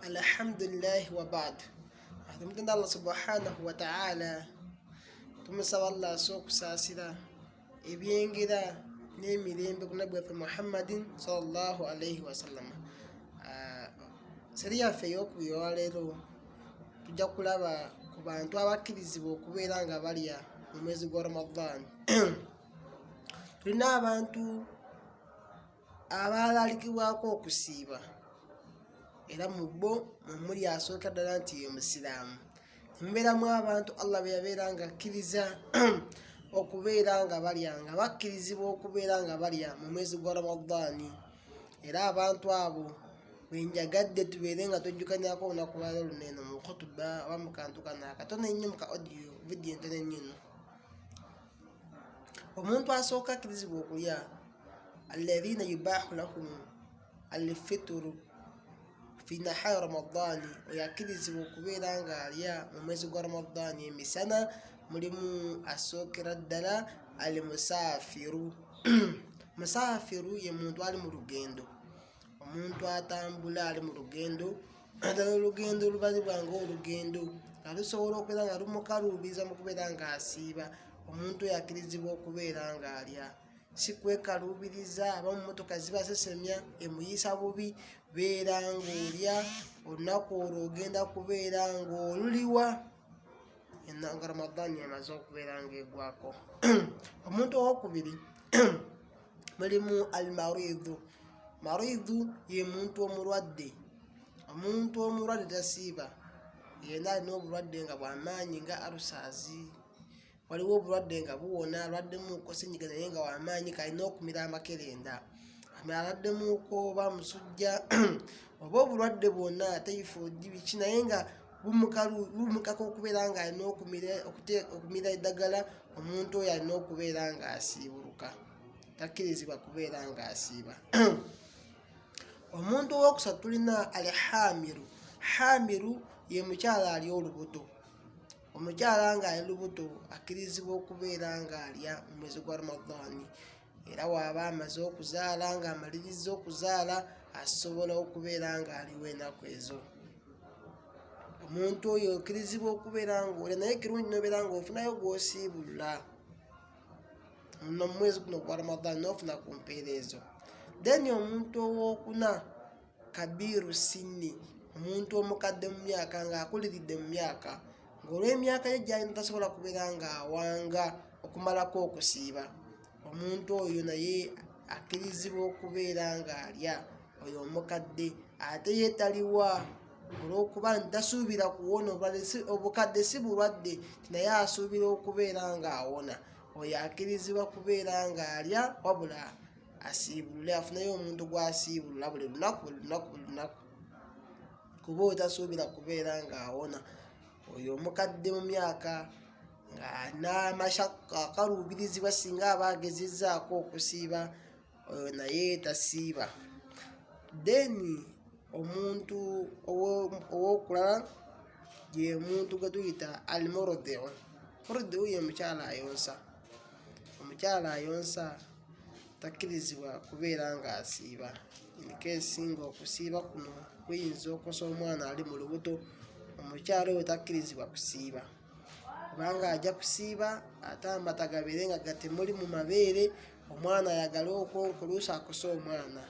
Alhamdulillah wa ba'd. Tumutenda Allah subhanahu wa ta'ala. Tumusaba Allah asokusaasira ebyengera n'emirembe ku nabbi waffe Muhammadin sallallahu alaihi wasallama. Ah, Seri yaffe ey'okubiri olwaleero tujja kulaba ku bantu abakkirizibwa okubeera nga balya mu mwezi gwa Ramadhan. Tulina abantu abaalaalikibwako okusiiba era mu bo mwe muli asooka ddala nti ye musiraamu mubeeramu abantu allah be yabeera nga akkiriza okubeera nga balya nga bakkirizibwa okubeera nga balya mu mwezi gwa ramadaani era abantu abo bwenjagadde tubeere nga twejjukanyako olunaku lwalo luno eno mu khutuba oba mu kantu kano akatono ennyo mu ka audio vidiyo entono ennyo eno omuntu asooka akkirizibwa okulya alladhina yubahu lahum alfituru fi nahari ramadaani oyo akkirizibwa okubeera ng'alya mu mwezi gwa ramadaani emisana mulimu asookera ddala al musaafiru musaafiru ye muntu ali mu lugendo omuntu atambula ali mu lugendo naddala olugendo olubali bwange olugendo nga lusobola okubeera nga lumukaluubiza mu kubeera ng'asiiba omuntu oyo akirizibwa okubeera ng'alya si kwekaluubiriza aba mu motoka zibasesemya emuyisa bubi beera ng'olya olunaku olwo ogenda kubeera ng'oluliwa nga ramadaani emaze okubeera ng'egwako omuntu owokubiri mulimu almaridhu maridhu ye muntu omulwadde omuntu omulwadde tasiiba yena alina obulwadde nga bwamaanyi nga alusaazi waliwo obulwadde nga buwona alwaddemuko senyiga naye nga wamaanyi kalina okumira amakerenda alwaddemuko oba musujja oba obulwadde bwonna tayifodi biki naye nga lumukaka okubeera nga alina okumira eddagala omuntu oyo alina okubeera nga asiibuluka takkirizibwa kubeera nga asiiba omuntu owokusatu tulina al hamiru hamiru ye mukyala ali olubuto omukyala nga ali lubuto akkirizibwa okubeera nga alya mu mwezi gwa ramadhani era waaba amaze okuzaala nga amalirizza okuzaala asobola okubeera nga aliwo enaku ezo omuntu oyo okirizibwa okubeera nga oli naye kirungi nobeera nga ofunayo gwosiibulula nomumwezi guno gwa ramadan nofuna ku mpeera ezo then omuntu owokuna Kabiru Sinni omuntu omukadde mu myaka ng'akuliridde mu myaka ng'olw'emyaka ye gy'alina tasobola kubeera ng'awanga okumalako okusiiba omuntu oyo naye akkirizibwa okubeera ng'alya oyo omukadde ate ye taliwa olw'okuba nti tasuubira kuwona obukadde si bulwadde naye asuubira okubeera ng'awona oyo akkirizibwa kubeera ng'alya wabula asiibulule afuneyo omuntu gwasiibulula buli lunaku buli lunaku buli lunaku kuba otasuubira kubeera ng'awona oyo omukadde mu myaka n'amashakka akaluubirizibwa singa aba agezezzaako okusiiba oyo naye tasiiba then omuntu owokulala ye muntu gwe tuyita almorodeo morodewo ye mukyala ayonsa Omukyala ayonsa takkirizibwa kubeera ng'asiiba in case ng'okusiiba kuno kuyinza okosa omwana ali mu lubuto, omukyala oyo takkirizibwa kusiiba kubanga ajja kusiiba ate amata gabeere nga gatemuli mu mabeere omwana ayagale okwonka oluusi akose omwana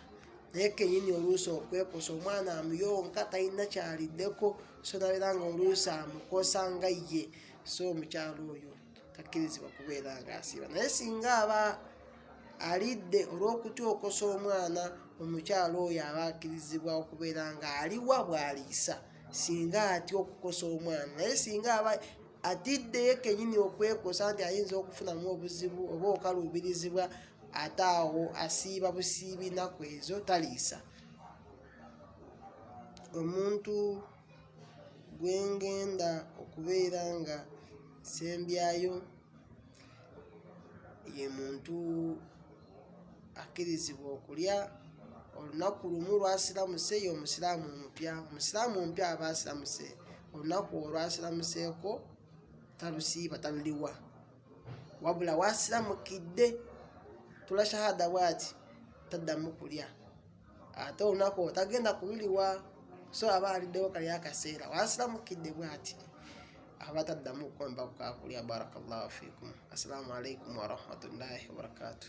naye kenyini oluusi okwekosa omwana amuyonka talina kyaliddeko so nabeera nga oluusi amukosa nga ye so omukyala oyo takkirizibwa kubeera ng'asiiba naye singa aba alidde olw'okutyokosa omwana omukyala oyo aba akkirizibwa okubeera ng'aliwa bw'aliisa singa atya okukosa omwana naye singa aba atidde kenyini okwekosa nti ayinza okufunamu obuzibu oba okaluubirizibwa ate awo asiiba busiibi naku ezo taliisa omuntu gwe ngenda okubeera nga nsembyayo ye muntu akkirizibwa okulya olunaku lumu lwasiramuse ye omusiraamu omupya omusiraamu omupya aba asiramuse olunaku olwasiramuseeko talusiiba taluliwa wabula wasiramukidde tula shahada bwati taddamu kulya ate olunaku otagenda kululiwa so aba aliddewo kali akaseera wasiramukidde bwati aba taddamu kukomba kukakulya barakallahu fikum assalamu alaikum warahmatullahi wabarakatuh